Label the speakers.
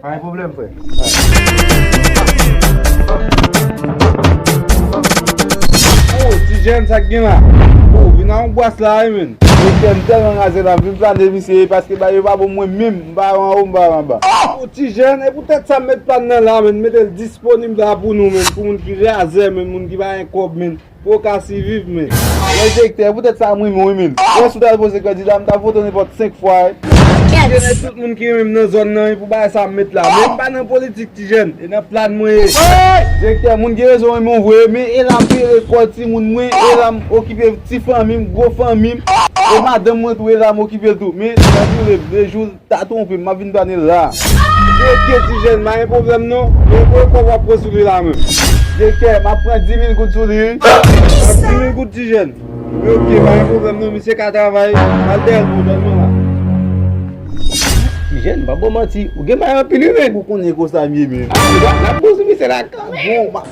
Speaker 1: Pa gen pwoblèm frè. Oh ti jèn sak gen la? Oh vin nan yon bwas la wi menn. Mesye m tèlman raze la m vin plane misye wi paske bagay yo pa bon mwen menm m pa wè anwo m pa wè anba. Oh ti jèn e
Speaker 2: pou tèt sa m met plane nan la menn m metel disponib la pou nou menn pou moun ki razè menn moun ki pa gen kòb menn. Pou w ka siviv men. Mwen se ektè, e
Speaker 1: poutèt sa m rinmin w rinmin. Mwen si w ta al poze kandida, m ta vote w nenpòt 5 fwa e. M konnen tout
Speaker 2: moun ki rinmin m nan zòn nan e pou bagay sa m met la. Men m pa nan politik ti jèn, e nan plan mwen ye. Direktè,
Speaker 1: moun gen rezon rinmin w vre, men e la m pere kò timoun mwen, e la m okipe ti fanmi m, gwo fanmi m, e madanm mwen tou e la m okipe l tou. Men, nan joure, 2 jou. Ta twonpem map vin pane la. Direktè ti
Speaker 2: jèn pa gen pwoblèm non Men konbyen kòb wap pran sou li la menm? Direktè map pran
Speaker 1: 10000 goud sou li wi. Pran 10000
Speaker 2: goud ti jèn? Wi ok pa gen pwoblèm non misye ka travay Al dèyèl pou mwen non la. Ti
Speaker 3: jèn pa baw manti ou gen may anpil wi menn. Ou konnen konsa m ye
Speaker 1: menm. Nap bon sou misye
Speaker 3: la kanmèm.